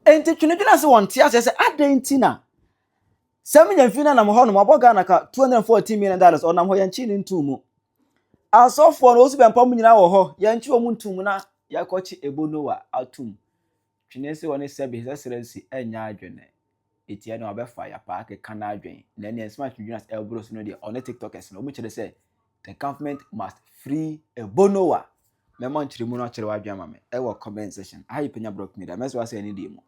Enti twenedwene ase wɔ nte aseɛ sɛ adɛn nti na sɛ menya mfiri no nam hɔ nom abɔ Ghana ka 214 million dollars ɔnam hɔ yɛnkye no ntom mu. Asɔfoɔ no wɔsu bɛmpa mu nyinaa wɔ hɔ yɛnkye wɔn ntom mu na yɛakɔkye ebo Noa atom. Twene se wɔne sɛbe sɛ srɛ nsi ɛnyɛ adwene. Eti ɛna ɔbɛfa yapa akeka n'adwen na ɛne ɛnsoma twedwene ase ɛboro so no deɛ ɔne tiktokers no wɔkyerɛ sɛ The government must free Ebonowa. Mɛma nkyerɛmu no akyerɛ w'adwene ama me ɛwɔ comment section. Aha yɛ Panya Blog Media. Mɛsɛ w'asɛ ɛne deɛ mu.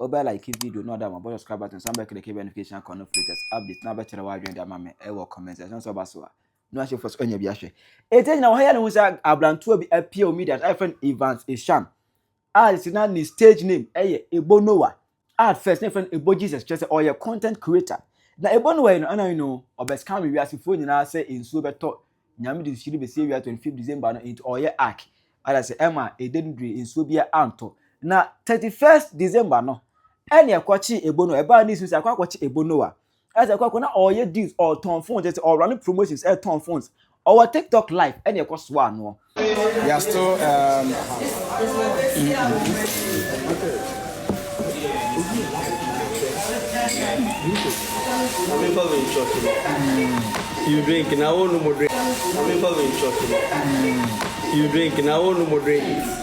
Wobɛ like video na ɔda ama bɔ subscribe button san bɛkɛdɛkɛ bɛ notification akɔ no latest update na bɛkyerɛ w'adwene de ama me ɛwɔ comment section. Sɛ ɔba so a na ahyɛ fo so anya bi ahwɛ. Ɛti agyina wɔ ha yɛ ne ho sɛ abrantewa bi apia wɔ media a ɛfrɛ no Evans Eshan a si na ne stage name ɛyɛ Ebonowa. At first, na yɛfrɛ no Ebo Jesus, kyerɛ sɛ ɔyɛ content creator. Na Ebo no wɔyɛ no, ana you know, ɔbɛscam wiasefoɔ nyinaa sɛ nsuo bɛtɔ Nyame de nsuhyire bɛsie wia 25 December no, nti ɔyɛ ark. Ada sɛ ɛma ɛda no dure nsuo biara antɔ. Na 31st December no, ɛne ɛkɔkyee Ebo Noah. Ɛbaa news mu sɛ akɔ akɔkye Ebo Noah. ɛsɛ kɔ kɔ na ɔyɛ deals ɔtɔn phones ɛsɛ ɔrun promotions ɛtɔn phones ɔwɔ tiktok live ɛna ɛkɔ so anoɔ. they are still um, mm, mm. you drink now no more drink you drink now no more drink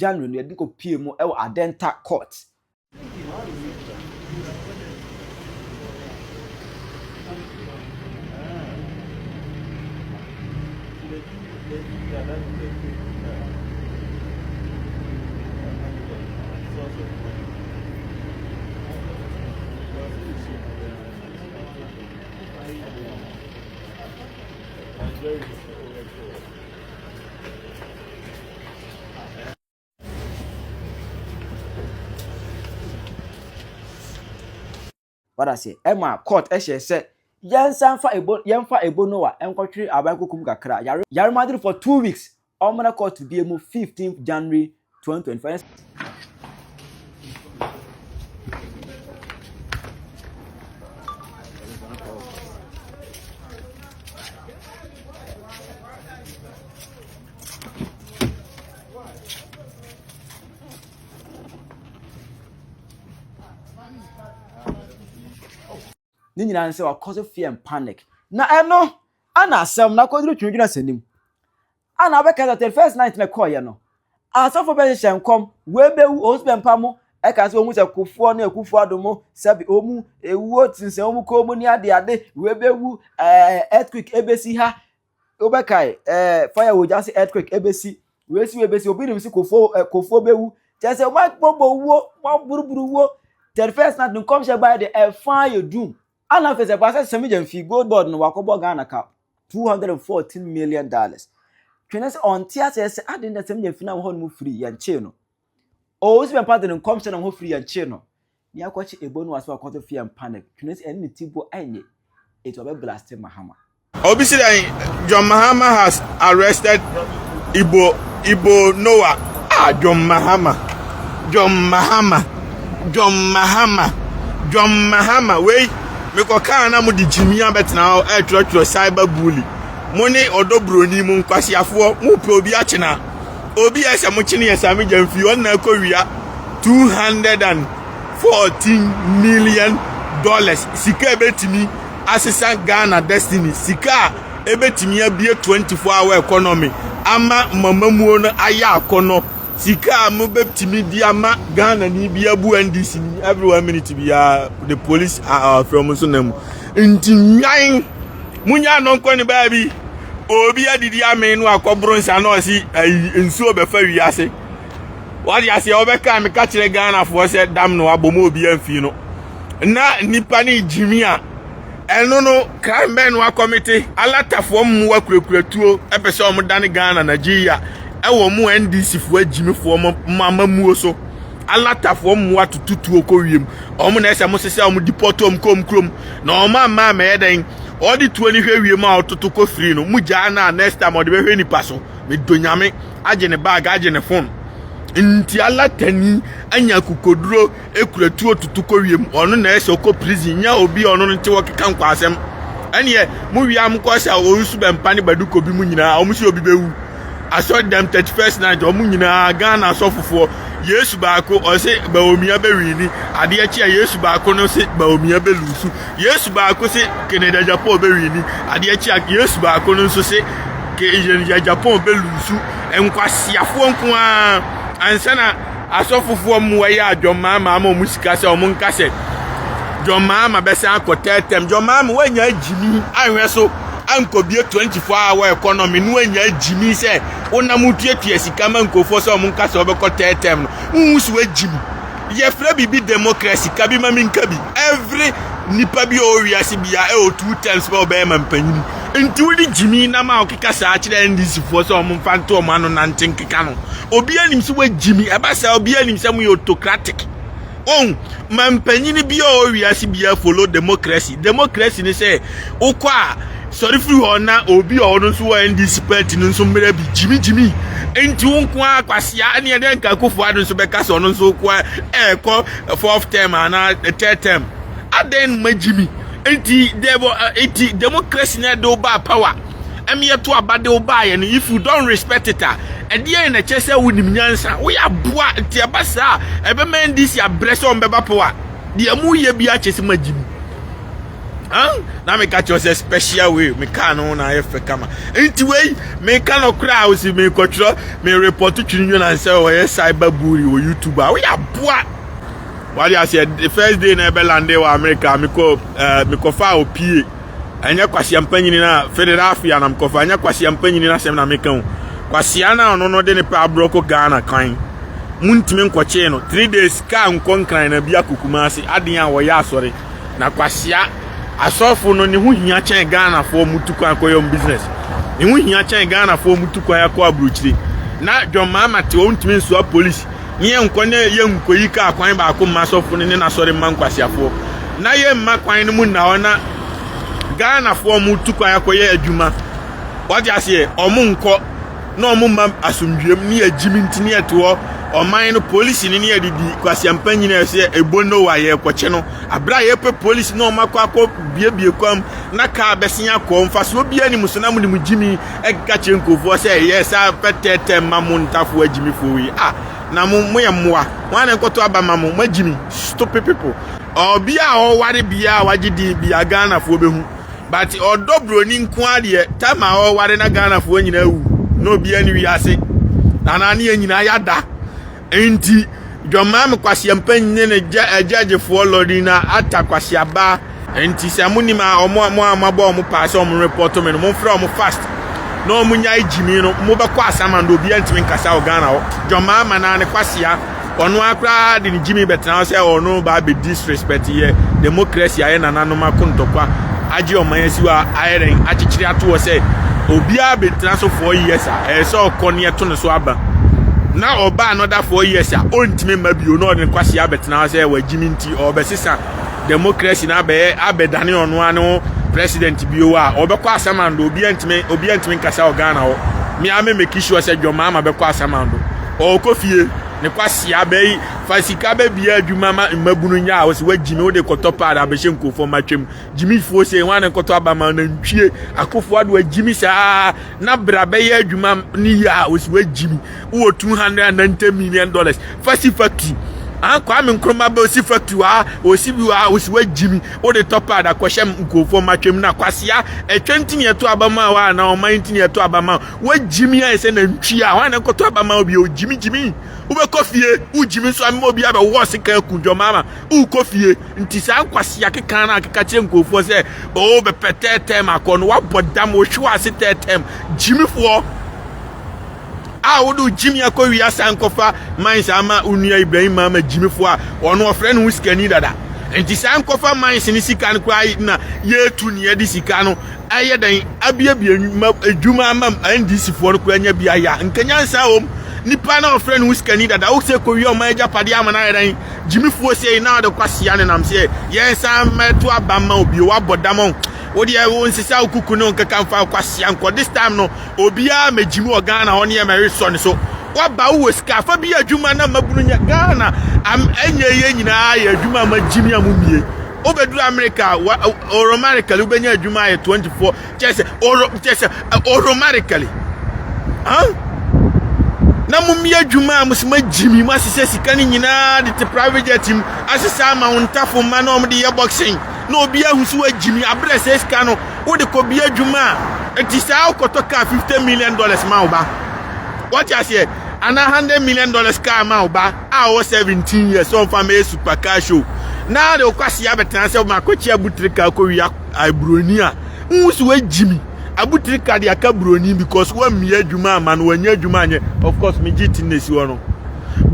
January no yɛde kɔ pie mu wɔ Adenta court. Wada se ɛma court ɛhyɛ sɛ yɛnsan fa ebo yɛnfa ebo no a ɛnkɔtwere aban koko mu kakra yare yare madiri for two weeks ɔmmra court bie mu fifteenth january twenty twenty four. ne nyinaa sɛ wakɔ so fear and panic na ɛno ana asɛm na akɔduru twendwena sɛ nim A na wobɛka sɛ thirty first night na ɛkɔɔeɛ no, asɔfo bɛhyehyɛ nkɔm, wɔbɛwu, wɔn nso bɛmpa mo, ɛka sɛ wɔhu sɛ kofoɔ ne akufo ado mo, sɛbe wɔn ɛwuo sensɛn wɔn kɔn mu ne ade ade, wɔbɛwu, ɛɛ earthquake ɛbɛsi ha, wobɛkae, ɛɛ fire wɔ gya se earthquake ɛbɛsi, wɔasi wɔbɛsi, obi nim se kofoɔ, ɛɛ kofoɔ bɛwu, kyɛ sɛ wɔabɔbɔ wuo, wɔaburuburu wuo, thirty first night nkɔmhyɛ baeɛ de ɛfa yɛ doom. Ana afei sɛ Kwasa Semigya mfi gold board no wakɔbɔ Ghana ka two hundred and fourteen million dollars. Twene sɛ ɔnte aseɛ sɛ aden na Semigya mfi nam hɔ nom firi yɛnkyee no. Ɔwɔ si bɛmpa de ne nkɔmhyɛ nam hɔ firi yɛnkyee no. Ne akɔkye ebo no wɔ ase wakɔto fi yɛmpa no. Twene sɛ ɛne ne ti bɔ ɛnye. Eti ɔbɛ blaste Mahama. Obi si dɛn John Mahama has arrested Igbo Igbo Noah. Ah John Mahama John Mahama John Mahama John Mahama wei mekɔ kaa na mo de gyimi abɛtena hɔ ɛtwerɛtwerɛ cyber bully mo ne ɔdɔ buroni mo nkwasiafoɔ mo pɛ obi akyena obi a sɛ mo kyene yɛ saa megya mfiri hɔ na ɛkɔ wia 214 million dollars sika ɛbɛtumi asesa Ghana destiny, sika a ebetumi abue 24 hour economy ama mamamuo no ayɛ akɔnɔ, sika a mobɛtumi di ama Ghana ni bi abu NDC ni every one minute biara the police are from so na mu. Nti nwan munya no nkɔ ne baabi obi adidi ame no akɔboro nsa na ɔsi nsuo bɛfa wiase. Wade aseɛ wɔbɛka meka kyerɛ Ghanafoɔ sɛ dam no abɔ mu obi amfi no. na nnipa no regyimi a, ɛno no kra mmɛn no akɔmete alatafoɔ mmoa kurakura-tuo pɛ sɛ wɔn dane Ghana Nigeria ɛwɔ mo NDCfoɔ agyimifoɔ mo amammuo so alatafoɔ mmoa tututuo kɔ wiem wɔn na ɛsɛ mo sesɛ wɔn depɔto wɔn kɔm kurom na wɔn amma amɛyɛ dɛn ɔde tuo no hwɛ wiem a ɔtoto kɔ firi no mo gyaa no a next time ɔde bɛhwɛ nipa so medɔ nyame agye ne bag agye ne phone nti alatani anya kukoduro kura tuo tutu kɔ wiem ɔno na ɛsɛ ɔkɔ prison nya obi a ɔno no te wɔkeka nkwasɛm ɛneɛ mo wia mo kɔ sɛ wɔn nso bɛmpa ne baduko bi mu nyinaa wɔn sɛ obi bɛwu asɔre dɛm thirty first night wɔn nyinaa ghana asɔfofoɔ yesu baako ɔse baomia bɛwini adeɛ kye a yesu baako no se baomia bɛlusu yesu baako se keneda japan bɛwini adeɛ kye a yesu baako no nso se keneda japan bɛlusu nkwasiafoɔ nko ara ansa na asɔfofoɔ mmoa yi a John Mahama ama wɔn sika sɛ wɔn nka sɛ John Mahama bɛsan akɔ third term John Mahama wanya gyimi anhwɛ so ankɔbie 24 hour economy no wanya gyimi sɛ wonam tuatua sika ma nkurɔfoɔ sɛ wɔn nka sɛ wɔbɛkɔ third term no wohu so agyimi yɛfrɛ biribi democracy ka bi ma menka bi every nipa bi a ɔwɔ wiase bia ɛwɔ two terms bɛ ɔbɛyɛ ma mpanyin Nti wode gyimii nam a wokeka saa kyerɛ NDC foɔ sɛ wɔn mfa nto wɔn ano nante nkeka no. Obiara nim sɛ wagyimi. Ɛba saa obiara nim sɛ mo yɛ autocratic. Ohun, ma mpanyini bi a ɔwɔ wiase biara follow democracy. Democracy ne sɛ wokɔ a sɔre firi hɔ na obi a ɔno nso wɔ NDC party no nso mmerɛ bi gyimi gyimi. Nti wo nko ara kwasia ne ɛdɛ nka akufo ado nso bɛka sɛ ɔno nso wokɔ ɛɛkɔ fourth term anaa third term. Adɛn na moagye me? Enti dɛ bɔ ɛ eti democracy na ɛde wo baa power? Ɛm yɛto aba de wo baeɛ no if you don't respect it a ɛdeɛn na ɛkyerɛ sɛ wonim nyansa? Woyɛ aboa nti ɛba saa a ɛbɛma NDC abrɛ sɛ wɔn bɛba power? Deɛ moreyɛ biara kyerɛ sɛ moagye mu. Huh? Na meka kyerɛ wo sɛ special way me kaa no ho na ayɛ fɛ kama. Nti wei meka no koraa a wosi mekɔtwerɛ me report Twiri Nyonan sɛ ɔyɛ cyber bully wɔ YouTube a woyɛ aboa. wade aseɛ the first day na ɛbɛ lande wɔ amerika mekɔ ɛɛ eh, mekɔfa a opie ɛnyɛ kwasia mpa nyini na philadelphia na mekɔfa ɛnyɛ kwasia mpa nyini na asɛm na meka o kwasia na ɔno no de ne pɛ aborɔ kɔ ghana kan muntumi nkɔkyee no three days kaa nkɔ nkran na bi akokuma ase aden a wɔyɛ asɔre na kwasia asɔfo no ne ho hia kyɛn ghanafoɔ mutu kwan kɔyɛ business ne ho hia kyɛn ghanafoɔ mutu kwan akɔ aburokyire na dwɔn maama te ɔntumi nsoa polisi na yɛnkɔ na yɛ nkoyi kaa kwan baako mma asɔfo no ne n'asɔre mma nkwaseafoɔ na yɛmma kwan no mu nna hɔ na ghanafoɔ ɔmo tu kwan akɔyɛ adwuma wɔte aseɛ ɔmo nkɔ na ɔmo mma asomdwuam ne yɛgyimi nti ne yɛte hɔ ɔman no polisi ne ne yɛde di kwaseampa nyina ɛsɛ ebo no wa yɛrekɔkyɛ no abere a yɛpɛ polisi na ɔmo akɔ akɔ biebie kwam na kaa bɛsen akɔ mfasoɔ biara nim so na mo ne mo gyimi ɛka kyerɛ nkurɔfoɔ sɛ yɛ saa pɛtɛɛtɛ ma mo ntafo agyimifoɔ yi a na mo moyɛ mmoa wɔn a nkɔtɔ aba ma mo moagyimi stupid people ɔbi a ɔware bia a wagye din bia ghanafoɔ bɛhu but ɔdɔ buroni nko adeɛ tam a ɔware na ghanafoɔ nyinaa wu na obia ne wiase anaa ne yɛ nyinaa yɛada Enti, dwammaa me kwaseɛmpa nyɛ ne agyagyefoɔ lɔri na ata kwaseaba. Enti sɛ mo nim a ɔmo a mo a moabɔ ɔmo paa sɛ ɔmo repɔto me no mo mfrɛ ɔmo fast na ɔmo nyae gyimi no mo bɛkɔ asaman do obiara ntumi nkasa wɔ Ghana hɔ dwammaa ma naa ne kwasea ɔno ara koraa de ne gyimi bɛtena hɔ sɛ ɔno baa bɛdi disrespect yɛ democracy a yɛ nananom akontɔkwa agye ɔman asiwa ayɛ dɛn akyekyere ato hɔ sɛ obiara bɛtena so four years a ɛyɛ sɛ ɔkɔ ne ɛto ne so aba na ɔba another four years a ɔntumi mma bio na ɔde ne kwasi abɛtena hɔ sɛ wagye me nti ɔbɛsesa democracy na abɛyɛ abɛdane ɔno ano ho president bio a ɔbɛkɔ asamando obiara ntumi obiara ntumi nkasa wɔ Ghana hɔ mmea me make sure sɛ dwɔmaama bɛkɔ asamando ɔkɔ fie ne kwasi abɛyi Fa sika bɛbia adwuma ma mmabunu nya a wɔsi wagyimi wode kɔtɔ paa na abɛhyɛ nkurɔfoɔ ma twam gyimifoɔ sei ho a na nkɔtɔ aba ma nantwie akofo ado agyimi saa na bra bɛyɛ adwuma ne yie a wɔsi wagyimi wowɔ 290 million dollars fa si factory ah kwame nkrumah bɛ osi factory ah osi bi ah osi wagyimi wode tɔ paa da kɔhyɛ nkurɔfoɔ ma twam na kwasea ɛtwa ntini ɛto aba ma wa na ɔman ntini ɛto aba ma wagyimi ayɛ sɛ nantwie a wɔn a nkɔtɔ aba ma obi ogyimi gyimi wobɛkɔ fie, wogyimi nso ama obi abɛwɔ sika aku dwɔmaama, wokɔ fie. Nti saa nkwasea keka no a keka kyerɛ nkurɔfoɔ sɛ, oo bɛpɛ third term akɔ no, wabɔ dam, wohwe w'ase third term. Gyimifoɔ a wode wo gyimi akɔ wie asan nkɔfa mines ama wo nua Ibrahim Maama gyimifoɔ a ɔno ɔfrɛ ne ho sikani dada. Nti saa nkɔfa mines ne sika no koraa na yɛtu ne yɛde sika no ɛyɛ dɛn abiabia ma adwuma ama ndc foɔ no koraa nya bi ayɛ a nka nyansa wɔ mu nipa na ɔfrɛ ne ho sikani dada wo sɛ kɔwie ɔman agyapadeɛ ama no ayɛ dɛn gyimifoɔ sei na ɔde kwasia ne nam sɛ yɛnsa mɛto aba ma obio wabɔ dam ɔn wodeɛ wo nsesa wo kuku ne nkeka mfa kwasia nkɔ this time no obiara mɛgyimi wɔ Ghana hɔ ne yɛ mɛwe sɔ ne so waba wowɔ sika afa bi adwuma na mabunu nya Ghana am ɛnyɛ yɛ nyinaa yɛ adwuma ma gyimi a mo mmie wobɛduru Amerika a, wa, automatically wobɛnya adwuma ayɛ 24, kyɛ sɛ, oro, kyɛ sɛ, automatically. Huh? na mommyɛ adwuma a mo sɛ moagyi mi moasesɛ sika no nyinaa de te private jet mu asesɛ ama wo ntafo mma na ɔmde yɛ boxing na obi ahu sɛ woagyi mi aberɛ sɛ sika no wode kɔbi adwuma a ɛti saa wokɔtɔ kaa 50 million dollars ma wo ba wɔte aseɛ anaa 100 million dollars kaa ma wo ba a ɔwɔ 17 years ɔmfa mma yesu pa car show na de ɔkwasi abɛtena sɛ ɔma akɔkye abutirika akɔwia aburoni a nhu so wagyi mi abutirika de aka buroni because wammie adwuma ama no wanyɛ adwuma anyɛ of course megye ti na esi hɔ no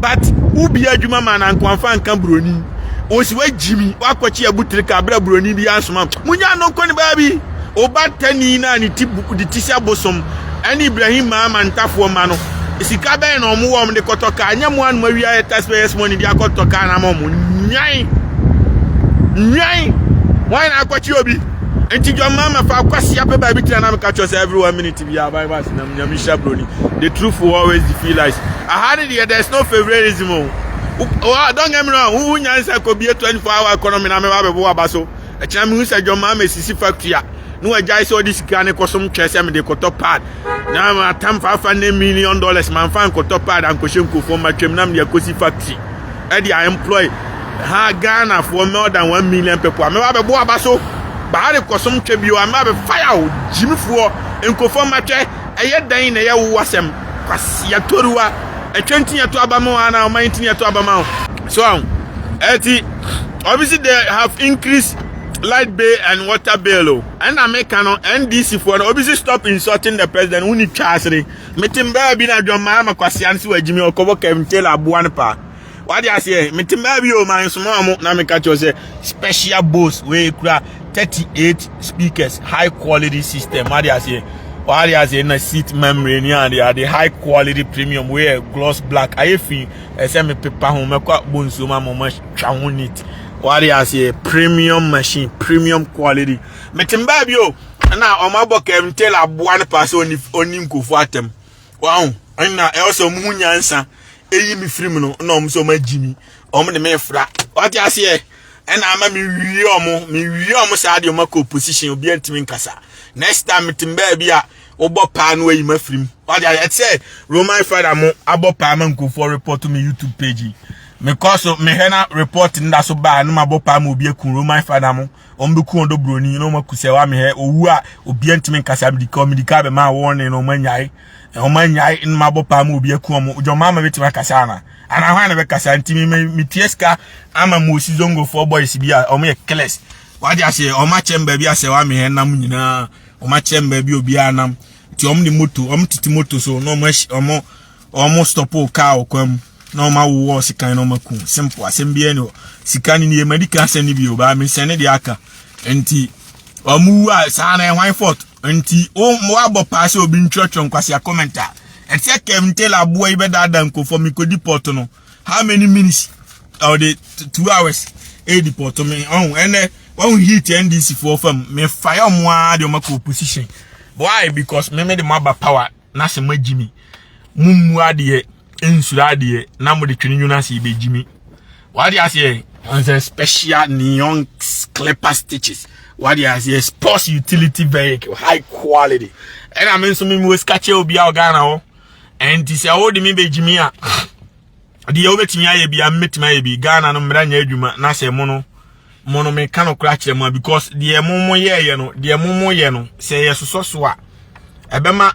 but wobie adwuma ma na nkwanfa nka buroni wɔsi wagyi mi wakɔkye abutirika abira buroni bi asoma munya no nkɔ ne baabi Obatani no a ne ti bu de ti sɛ bosom ne Ibrahim maa amantafoɔ mma no. Sika bɛn na wɔn wɔn de kɔtɔ kaa? Nyɛ mo anum awia yɛ taxpayers money de akɔtɔ kaa na ama wɔn nwan nwan wɔn na akɔkye obi. Nti John Mama fa akwasi apɛ baabi tena na meka kyerɛ sɛ every one minute bi a Bible asenam nyame hyira broni. The truth will always defeat lies. Aha ne deɛ there's no favoritism o. Don't get me wrong, wo nyansa kɔbie 24 hour economy na mɛba bɛbɔ waba so. Ɛkyena mehu sɛ John Mahama sisi factory a na wagyae sɛ ɔde sika ne kɔsom twɛ sɛ mede kɔtɔ pad na matam faafa ne million dollars mamfa nkɔtɔ pad ankɔhyɛ nkurɔfoɔ mma twam na mede akɔsi factory ɛde a employ ha Ghana for more than one million people a mɛba bɛbɔ aba so baa de kɔsom twɛ bio a mɛba bɛfaya o gyimifoɔ nkurɔfoɔ mma twɛ ɛyɛ dɛn na ɛyɛ wo asɛm kwasia toruwa ɛtwa ntini ɛto aba ma wo anaa ɔman ntini ɛto aba ma wo so ɛti Obviously they have increased light bill and water bill o. Ɛna meka no NDC foɔ no obviously stop insulting the president woni twa asere. Metem baa bi na dwammaa ma kwasea no sɛ wagyimi ɔkɔbɔ Kevin Taylor aboa no paa. Wade aseɛ metem baa bi o ma nsoma ɔmo na meka kyerɛ sɛ special boss wei kura 38 speakers high quality system wade aseɛ wade aseɛ na seat memory ni ade ade high quality premium wei yɛ gloss black ayɛ fi ɛsɛ me pepa ho mɛkɔ abɔ nsuo ma mo matwa ho neat wade aseɛ premium machine premium quality mete mbaa bi o ɛna ɔmo abɔ kɛmtel aboa no paa sɛ ɔni ɔni nkurɔfoɔ atɛm waho ɛna ɛwɔ sɛ ɔmo ho nyansa ɛyi me firi mu no na ɔmo sɛ ɔmo agyi mi ɔmo de me fra wade aseɛ ɛna ama me wie ɔmo me wie ɔmo saa deɛ ɔmo akɔ opposition obi antumi nkasa next time mete mbaa bi a wobɔ paa no ayi ma firim wade ayɛ ɛte sɛ roman fada mo abɔ paa ma nkurɔfoɔ report me youtube page yi mekɔ so mehwɛ na report no da so baa no mabɔ paa ma obi aku roman fada mo wɔn bɛku wɔn dɔ buroni na wɔn aku sɛ wamehɛ owu a obia ntumi nkasa medika medika bɛma wɔne no wɔn anyae wɔn anyae no mabɔ paa ma obi aku wɔn dwɔn maa ma bɛtumi akasa ana ana hwan na bɛkasa ntumi metie sika ama mo osi zongofoɔ boys bi a wɔn yɛ killers wade aseɛ wɔn akyɛm baabi asɛ wamehɛ nam nyinaa wɔn akyerɛ me baabi obiara nam nti wɔn de moto wɔn tete moto so na wɔn ahyɛ wɔn wɔn stop kaa wɔ kwan mu na wɔn awo wɔ sekan na wɔn aku simple asɛm biara ni hɔ sika ne nie madi kan asɛm ne bi o baa mi sɛn ne de aka nti wɔn wu a saa na ɛhwan fort nti wɔn abɔ paa sɛ obi ntwerɛtwerɛ nkwasi akɔmɛnta ɛsɛ kɛm ntɛla aboa yi bɛdaadaa nkɔfɔ mi kɔ di pɔt no. how many minutes or the two hours e deport me ɔn ɛnɛ wɔn heat ndc foɔ fam me fa yɛ ɔmo ara de ɔmo akɔ opposition why because me me de mo aba power na sɛ mo agyi mi mo mmu adeɛ nsura adeɛ na mo de twene nwunu ase ebe gyi mi wade aseɛ ɔnsɛ special neon clipper stitches wade aseɛ sports utility vehicle high quality ɛna me nso me mu esika kyɛ obi a ɔgana hɔ. ɛnti sɛ wode me bɛgyimi a deɛ wobɛtumi ayɛ bia mɛtumi ayɛ bi ghana no mmara nyɛ adwuma na sɛ mo no mo no meka no kora kyerɛ mu a because deɛ mo mo yɛɛyɛ no deɛ mo mo yɛ no sɛ yɛsosɔ so a ɛbɛma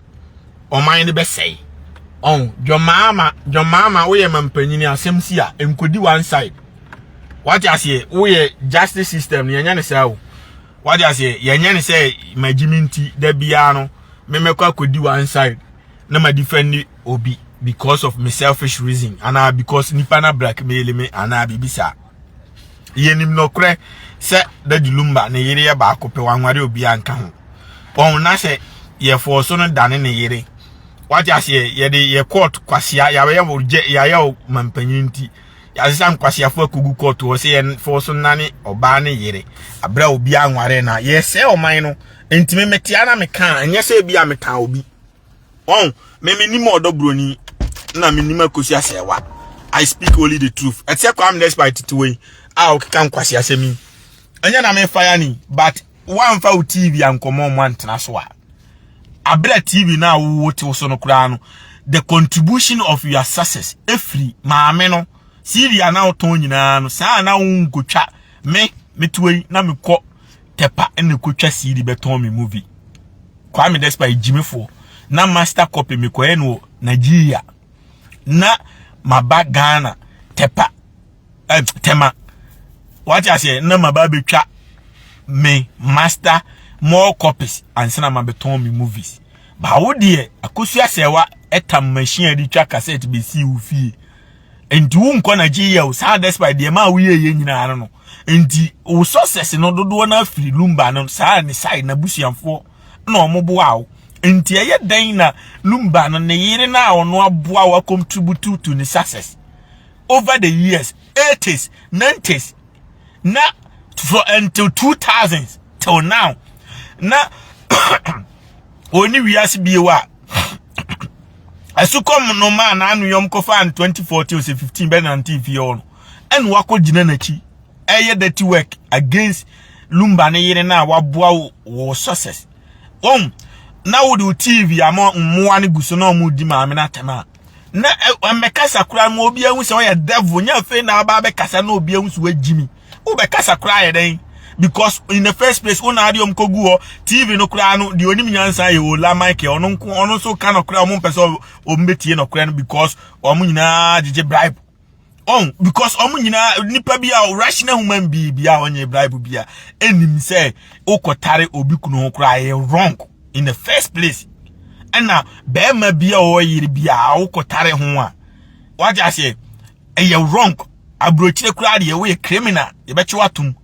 ɔman no bɛsɛe ɔn dwɔmaama dwɔmaama woyɛ ma mpanyini asɛm si a nkɔdi one side wate aseɛ woyɛ justice system no yɛnyɛ ne saa o wate aseɛ yɛnyɛ ne sɛ magyimi nti da biara no me mɛkɔ akɔdi one side na ma defend obi because of me selfish reason anaa because nipa na black mail me anaa biribi saa yɛnim nɔkorɛ sɛ dadi lumba ne yere yɛ baako pɛ wanware obi anka ho wɔn na sɛ yɛfɔɔ so no dane ne yere wate aseɛ yɛde yɛ court kwasea yɛayɛ wo gyɛ yɛayɛ wo mampanyin nti Yɛasesa nkwaseafo akogu kɔɔto hɔ sɛ yɛmfɔɔ so nnane ɔbaa ne yere berɛ a obi anware no a yɛsɛe ɔman no nti me metea na mekaa ɛnyɛ sɛ ebi a metaa obi wɔn me menim ɔdɔ buroni na menim akosi asɛewa I speak only the truth ɛte sɛ Kwame Despite tete wei a ɔkeka nkwase asɛm yi Ɛnyɛ na me fire ni but woamfa wo TV ankɔmɔ mu antena so a abira TV na wo tew so no koraa no the contribution of your success efiri maame no CD a na wotɔn nyinaa no saa na wonkotwa me metuo yi na mekɔ tepa ne kotwa CD bɛtɔn me movie Kwame Despite gyimefo na master copy mekɔyɛ no Nigeria na maba Ghana tepa eh, tema what I say na ma ba betwa me master more copies ansana ma beton me movies ba wo de akosu asewa etam machine de twa cassette be si wo fie enti wo nkɔ na gye yɛ saa despite de ma wo yɛ yɛ nyina no enti wo success no dodo na afiri lumba no saa ne side na busuamfo na omoboa wo enti ɛyɛ dan na lumba no ne yere na ono aboa wa contribute to ne success over the years, 80s, 90s, na for until 2000s till now. Na oni wiase bio a ɛsokɔm no maa n'anoyɔm kɔfa in 2014 ose 15 bɛ nante fie hɔ no ɛna wakɔ gyina n'akyi ɛyɛ dirty work against lumba ne yere na waboa wɔ success wɔn na wode tv ama mmoa no gu so na wɔn di maame no atɛm a na mmɛkasa koraa ma obi ahu sɛ ɔyɛ devil nyɛ afei na aba abɛkasa na obi ahu sɛ wagyi mi wobɛkasa koraa yɛ dɛn because in the first place wo na ade ɔm kɔgu hɔ tv no koraa no deɛ ɔnim nyansa yɛ ola michael ɔno nko ɔno nso ka nɔkorɛ a ɔmo mpɛ sɛ ɔmo bɛtie nɔkorɛ no because ɔmo nyinaa gyegye bribe ɔn because ɔmo nyinaa nipa bi a rational human being bi a ɔnyɛ bible bi a ɛnim sɛ wokɔtare obi kunu ho koraa yɛ wrong in the first place ɛna bɛrima bi a ɔwɔ yere bi a wokɔtare ho a wagye aseɛ ɛyɛ wrong aburokyire koraa deɛ woyɛ criminal yɛbɛkye watom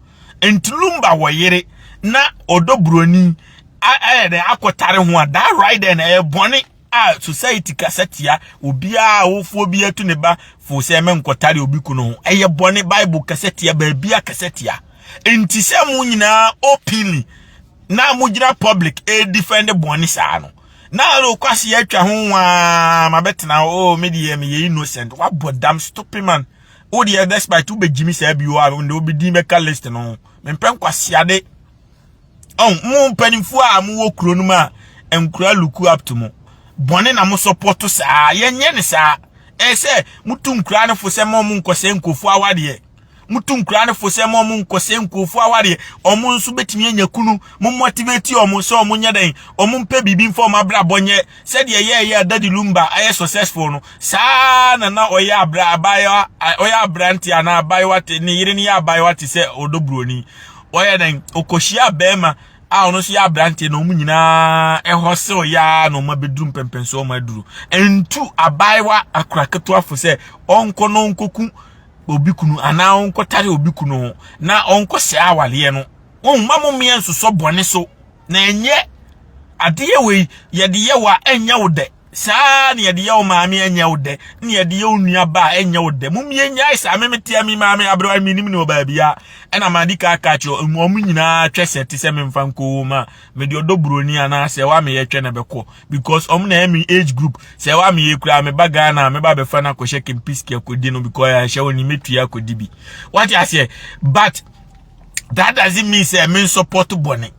ntilumba wɔ yere na ɔdɔ buroni ayɛ dɛ akɔtare ho a that right then ɛyɛ bɔne A society kasa tia obiara a awofoɔ bi atu ne ba fo sɛ menkɔtare obi kunu ho. Ɛyɛ bɔne. Bible kasa tia baabi a kasa tia. Nti sɛ mo nyinaa openly na mogyina public ɛredefend bɔne saa no na kwase atwa ho waa ma bɛtena hɔ oh me deɛ meyɛ innocent wabɔ dam stupid man wo deɛ despite wobɛgyimi saa bio a nde wobɛdin bɛka list no mempɛ nkwaseade ɔn mo mpanimfoɔ a mo wɔ kuro no mu a nkura luku up to mo bɔne na mo sɔpɔto saa yɛnyɛ ne saa ɛsɛ motu nkura no fo sɛ mo mo nkɔsɛ nkurɔfoɔ awadeɛ motu nkura no fo sɛ mo mo nkɔsɛ nkurɔfoɔ awadeɛ ɔmo nso betumi anya kunu mo motivate ɔmo sɛ ɔmo nyɛ dɛn ɔmo mpɛ biribi mfa ɔmo abrabɔ nyɛ sɛdeɛ yɛyɛ adadi lumba ayɛ successful no saa na na ɔyɛ abra abaayewa ɔyɛ aberante anaa abaayewa te ne yere no yɛ abaayewa te sɛ ɔdɔ buroni wɔyɛ dɛn ɔkɔhyia bɛrima a ɔno nso yɛ aberanteɛ na wɔn nyinaa ɛhɔ sew yaa na wɔn abɛduru mpɛmpɛnso wɔn aduru ntu abaayewa akora ketewafoɔ sɛ ɔnkɔ na ɔnkɔku obi kunu anaa ɔnkɔtare obi kunu ho na ɔnkɔ sɛ awareɛ no wɔn mma mo mmea nsosɔ bɔne so na ɛnyɛ adeɛ wei yɛde yɛ wa ɛnyɛ wo dɛ Saa ara na yɛde yɛ wo maame ɛnyɛ wo dɛ, na yɛde yɛ wo nuaba a ɛnyɛ wo dɛ. Mumie nyae saa memetea me maame aberewa menim ne wɔ baabi a ɛna madi ka aka kyerɛ wɔn nyinaa twɛ sɛ te sɛ memfa nkɔ wɔn a mede ɔdɔ buroni anaa sɛ ɛwɔ ameyɛ twɛ na bɛkɔ because wɔn na ɛyɛ me age group sɛ ɛwɔ ameyɛ kura meba Ghana a meba bɛfa no akɔhyɛ kempiski akɔdi no because ɛhyɛ wɔn ni metua akɔdi bi wate aseɛ but that doesn't mean sɛ me nsɔpɔto bɔne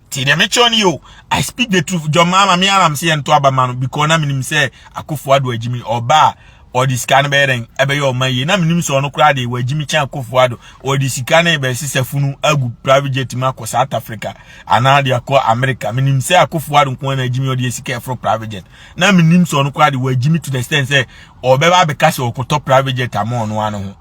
Ti deɛ mekyerɛ no yo, I speak the truth. John Mahama me ara mse yɛnto aba ma no because na menim sɛ Akufo Addo agyimi ɔba a ɔde sika no bɛyɛ dɛn ɛbɛyɛ ɔma yie na menim sɛ ɔno koraa deɛ wagyimi kyɛn Akufo Addo ɔde sika no bɛsesa funu agu private jet mu akɔ South Africa anaa de akɔ America menim sɛ Akufo Addo nko na agyimi ɔde sika ɛforo private jet na menim sɛ ɔno koraa deɛ wagyimi to the extent sɛ ɔbɛba abɛka sɛ ɔkɔtɔ private jet ama ɔno ano ho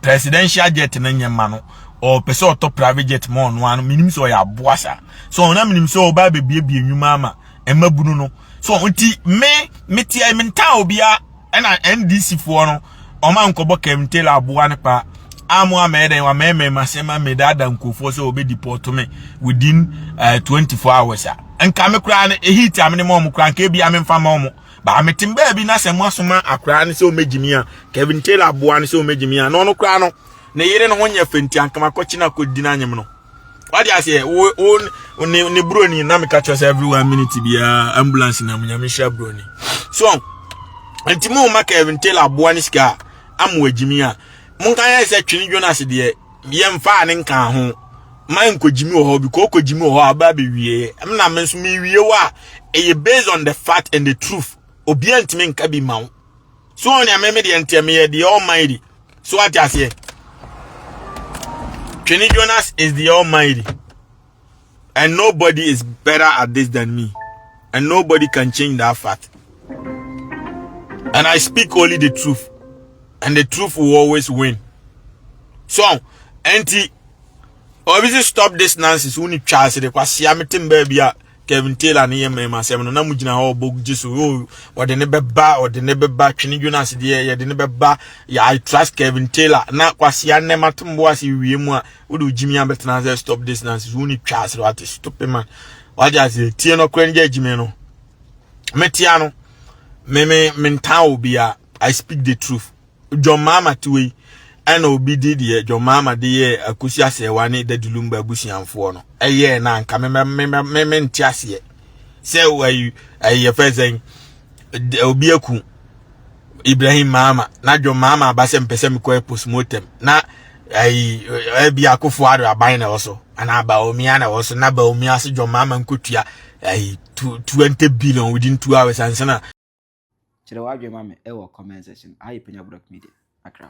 presidential jet no nyɛ ma no ɔpɛ sɛ ɔtɔ private jet ma ɔno ano menim sɛ ɔyɛ aboa saa so ɔna menim sɛ ɔba abɛbiebie nnwuma ama ɛma bunu no so nti me meteɛ mentaa obia ɛna ndc foɔ no ɔma nkɔbɔ kɛmtela aboa no paa amu amɛyɛ dɛn wamɛmɛ masɛm amɛdaada nkurɔfoɔ sɛ wɔbɛ deport me within uh, eh, 24 hours a nka me koraa no ɛhit a mene ma ɔmo koraa nka ebi a memfa ma ɔmo Baa me tem baabi na sɛ mo asoma akora ne sɛ ɔmɛ gyimi a Kevin Taylor aboa ne sɛ ɔmɛ gyimi a na ɔno koraa no ne yere no ho nyɛ fenti ankama kɔkye na kɔdi no anyem no wade aseɛ wo wo ne ne buroni na meka kyerɛ sɛ every one minute biara ambulance na mu nyame hyira buroni so nti mo ma Kevin Taylor aboa ne sika a amu agyimi a monka yɛ sɛ twene Jonas deɛ yɛmfaa ne nkaa ho ma nkogyimi wɔ hɔ bi kokogyimi wɔ hɔ a ba be wie em na me nso me wie wa ɛyɛ based on the fact and the truth obi antimi nka bi ma wo so on ya me me de ntɛ me yɛ the almighty so ate aseɛ Twene Jonas is the almighty And nobody is better at this than me. And nobody can change that fact. And I speak only the truth. And the truth will always win. So, auntie, obviously stop this nonsense. Uni chance de kwasi amitim baby a Kevin Taylor ne yɛma ɛma asɛm no na mo gyina hɔ ɔbɔ gye so o ɔde ne bɛba ɔde ne bɛba twene dwena ase deɛ yɛde ne bɛba I trust Kevin Taylor na kwasi anɛma tombo ase wie mu a Wode wo gyimi abɛtena ase stop this nonsense. Wo ni twa ase wate stupid man. Wate ase tie no kora ngya gyimi no. Metia no. Me me mentan obi a I speak the truth. John Mama tiwe ɛna obi di deɛ John Mama de yɛ akosi asɛwa ne dadilum ba abusuanfoɔ no. Ɛyɛ na nka me me me me nte aseɛ. sɛ ayi ayi yɛfɛ sɛn obi aku ibrahim maama na dwom maama aba sɛ mpɛ sɛ mekɔ postmortem na ayi ɛbi akofo ado aban na ɛwɔ so anaa baomia na ɛwɔ so na baomia se dwom maama nkotua ayi twenty billion within two hours ansana kyerɛ w'adwene ma me ɛwɔ comment section ayɛ panya brok media akra